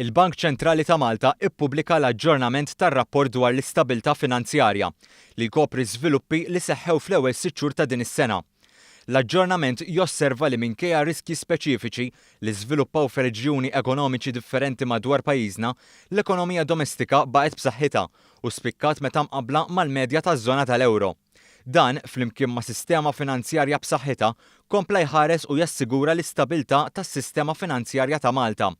Il-Bank Ċentrali ta' Malta ppubblika l-aġġornament tar-rapport dwar l-istabilità finanzjarja, li jkopri żviluppi li seħħew fl-ewwel sitt xhur ta' din is-sena. L-aġġornament josserva li minkejja riskji speċifiċi li żviluppaw f'reġjuni ekonomiċi differenti madwar pajjiżna, l-ekonomija domestika baqgħet b'saħħitha u spikkat meta mqabbla mal-medja taż-żona tal-euro. Dan, flimkien ma' sistema finanzjarja b'saħħitha, kompla jħares u jassigura l-istabilità tas-sistema finanzjarja ta' Malta.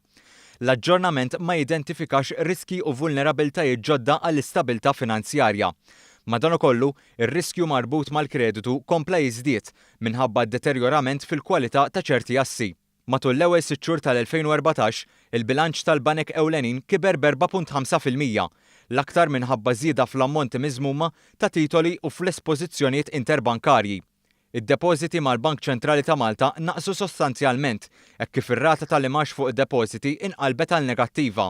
L-aġġornament ma jidentifikax riskji u vulnerabbiltajiet ġodda għall-istabilità finanzjarja. Madankollu, ir-riskju marbut mal-kreditu kompla jiżdied minħabba d-deterjorament fil-kwalità ta' ċerti assi. Matul l-ewwel sitt xhur tal-2014, il-bilanċ tal-banek ewlenin kiber b'4.5 fil-mija, l-aktar minħabba żieda fl-ammonti miżmuma ta' titoli u fl-espożizzjonijiet interbankarji. Id-depożiti mal-Bank Ċentrali ta' Malta naqsu sostanzjalment hekk kif ir-rata tal-imgħax fuq id-depożiti inqalbet għal negattiva.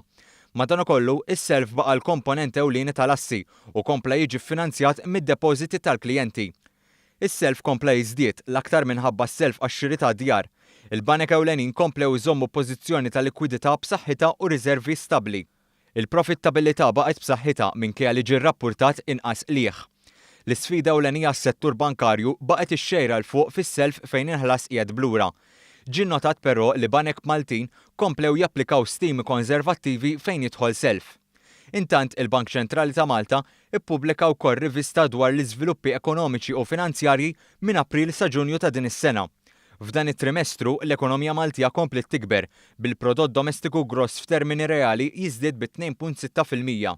Madankollu, is-self baqa' l-komponent ewlieni tal-assi u kompla jiġi ffinanzjat mid-depożiti tal-klijenti. Is-self kompla jiżdied, l-aktar minħabba s-self għax-xiri ta' djar. Il-banek ewlenin komplew iżommu pożizzjoni ta' likwidità b'saħħitha u riżervi stabbli. Il-profittabilità baqgħet b'saħħitha minkejja li ġie rrappurtat inqas qligħ. L-isfida ewlenija għas-settur bankarju baqgħet ix-xejra 'l fuq fis-self fejn il-ħlas qiegħed b'lura. Ġie nnotat però li banek Maltin komplew japplikaw stimi konservattivi fejn jidħol self. Intant, il-Bank Ċentrali ta' Malta ppubblika wkoll rivista dwar l-iżviluppi ekonomiċi u finanzjarji minn April sa Ġunju ta' din is-sena. F'dan it-trimestru, l-ekonomija Maltija kompliet tikber, bil-prodott domestiku gross f'termini reali jiżdied bi 2.6 fil-mija.